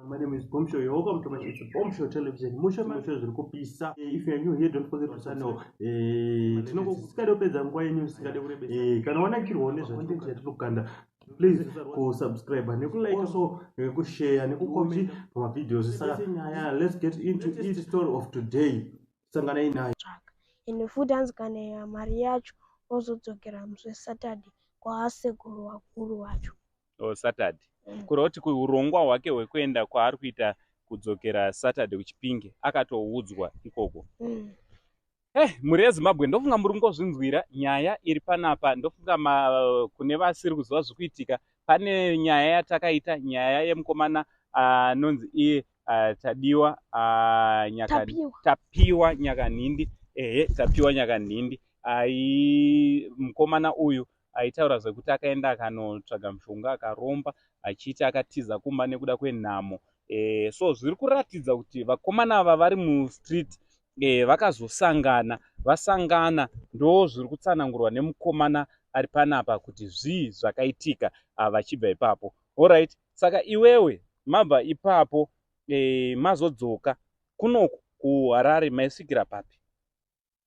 My name is Bombshell. You're welcome to my it's Bombshell Television. Mushe mushe zviri kupisa. Eh, if you are new here, don't forget to sign up. Eh, tinongo kusikade kupedza nguva yenyu sikade kurebesa. Eh, kana wanakirwa nezva content yatinokanda please kusubscribe nekulike also nekushare eh, nekucomment pamavideos saka nyaya let's get into each story of today sangana inayo ende futi hanzi kana ya mari yacho ozodzokera musi wesaturday kwaasekuru wakuru wacho or saturday mm. kureva kuti kuurongwa hwake hwekuenda kwaari kuita kudzokera saturday kuchipinge akatoudzwa ikoko mm. hey, eh, mhuri yezimbabwe ndofunga muri kungozvinzwira nyaya iri panapa ndofunga kune vasiri kuziva zviri kuitika pane nyaya yatakaita nyaya yemukomana ah, anonzi uh, iye uh, tadiwa uh, nyaka, tapiwa nyakanhindi ehe tapiwa nyakanhindi ai mukomana uyu aitaura zvekuti akaenda akanotsvaga mushonga akaromba achiti akatiza kumba nekuda kwenhamo e, so zviri kuratidza kuti vakomana ava vari mustreet e, vakazosangana vasangana ndo zviri kutsanangurwa nemukomana ari panapa kuti zvii zvakaitika ah, vachibva ipapo orit saka iwewe mabva ipapo e, mazodzoka kunoku kuharare maisvikira papi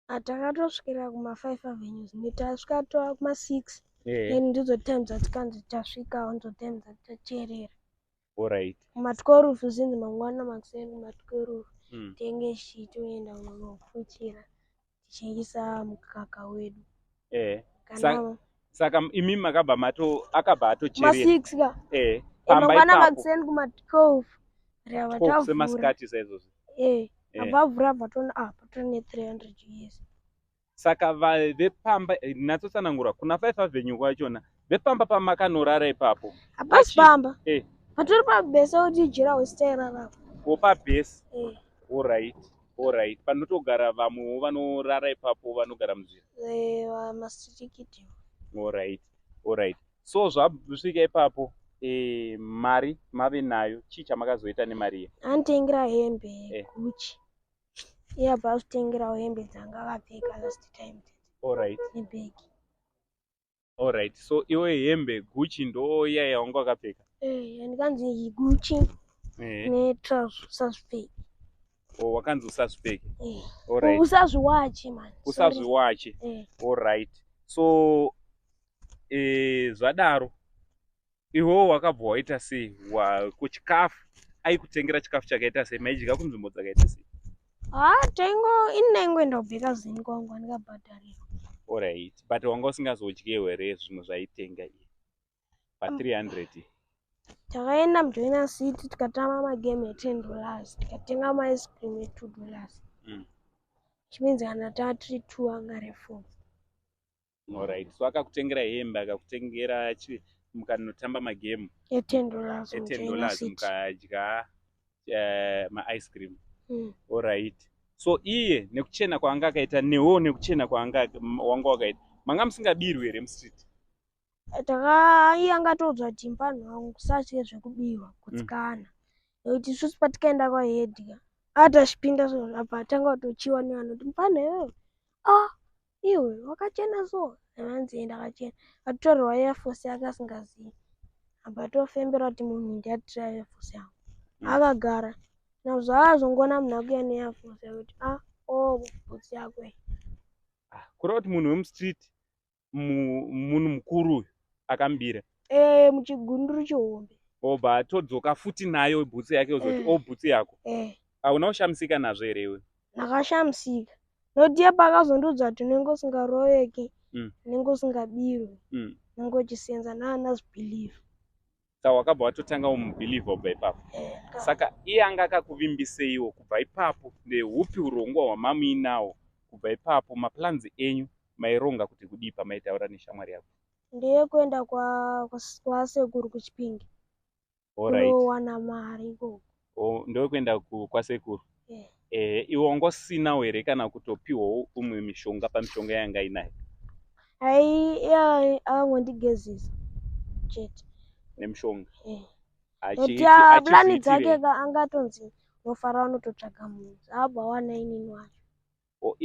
Ah, takatosvikira kuma five avenues ne tasvika tova kuma six Eh, then ndidzo time dzatikanzi tasvikawo ndidzo time dzati tateerera alright. kuma twelve zvinzi mangwana makuseni kuma twelve Mm. tenge tichitoenda kunofuchira tichingisa mukaka wedu eh Kana saka imi makabva mato akabva atocherera ma6 ka eh pamba ipapa makuseni kuma 12 ria vatavura semasikati saizvozvo eh, eh. avavura vatona apa ah, tone 300 years saka vepamba eh, natsotsanangura kuna 5 avenue kwachona Vepamba pamakanorara ipapo. Hapasi pamba. Eh. Patori pabese kuti jira wesitairara apo. Ko pabese. Eh. All right. All right. Panotogara vamwewo vanorara ipapo vanogara munzira. Eh, masirikiti. All right. All right. So zvasvika ipapo eh mari mave nayo chii chamakazoita nemari ye? Anditengera hembe eh. Gucci. Iya yeah, basi tengera hembe dzanga vapfeka last time. All right. Nebag. Alright, so iwe hembe Gucci ndo iya yaunga wakapfeka? Eh, yandikanzi Gucci eh. ne trouse usazvipfeke. Oh, wakanzi usazvipfeke. Eh. Alright. Usazviwache man. Usazviwache. Eh. Alright. So eh zvadaro iwewo wakabva waita sei wako chikafu aikutengera chikafu chakaita sei maidya kunzvimbo dzakaita sei ah, tengo ini ndaingoenda kubheka zini kwangu andikabhadharirwa orit but wanga usingazodye here zvinhu zvaitenga i pa 300 takaenda mujoina city tikatama magame e10 dollars tikatenga maice cream e2 dollars mm. chimeans kana taa tiri two angare four Alright. So akakutengera hembe, akakutengera chi mukanotamba magame e 10 dollars e 10 dollars mukadya uh, ma ice cream. Mm. Alright. So iye nekuchena kwaanga akaita newo nekuchena kwaanga wanga wakaita. Manga musingabirwi here mu street? Takaiye angatodzwa kuti mpanhu wangu kusatye zvekubirwa kutsikana. Mm. Nokuti isusu patikaenda kwa head ka. Atashipinda so apa tanga kutochiwa nevanhu kuti mpanhu iwewe. Ah iwe wakachena so hanzi enda akachena atotorerwa airforce yake asingazivi apa atofembera kuti munhu ndiatira airforce yangu mm. akagara nazvaazongoona munhu akuya neairforce yake kuti a ah, o oh, bhutsi yako ah, kureva kuti munhu wemustreet munhu mukuru uyu akambira ee eh, muchigunduru chihombe obva atodzoka futi nayo bhutsi yake ozoti eh. o oh, bhutsi yako eh. hauna kushamisika nazvo here iwe ndakashamisika noti iye paakazondiudza kuti unenge usingaroveki Mm. unenge usingabirwi Mm. unenge uchisenza naana zibhiliva saka wakabva watotanga umubhilivha kubva ipapo saka iye anga akakuvimbiseiwo kubva ipapo neupi urongwa hwamamuinawo kubva ipapo maplans enyu maironga kuti kudii pamaitaura neshamwari yako ndeye kuenda kwa- kwa- kwasekuru kuchipinge kunowana mari ikoko oh, ndokuenda kwasekuru yeah. eh, iwe ungosinawo here kana kutopiwawo umwe mishonga pamishonga yanga inayo ai yeah, akangondigezisa chete nemishonga yeah. Achi, ah, plani dzake ka angatonzi nofara vanototsvaga munhu zvaabva wana inini wacho oh,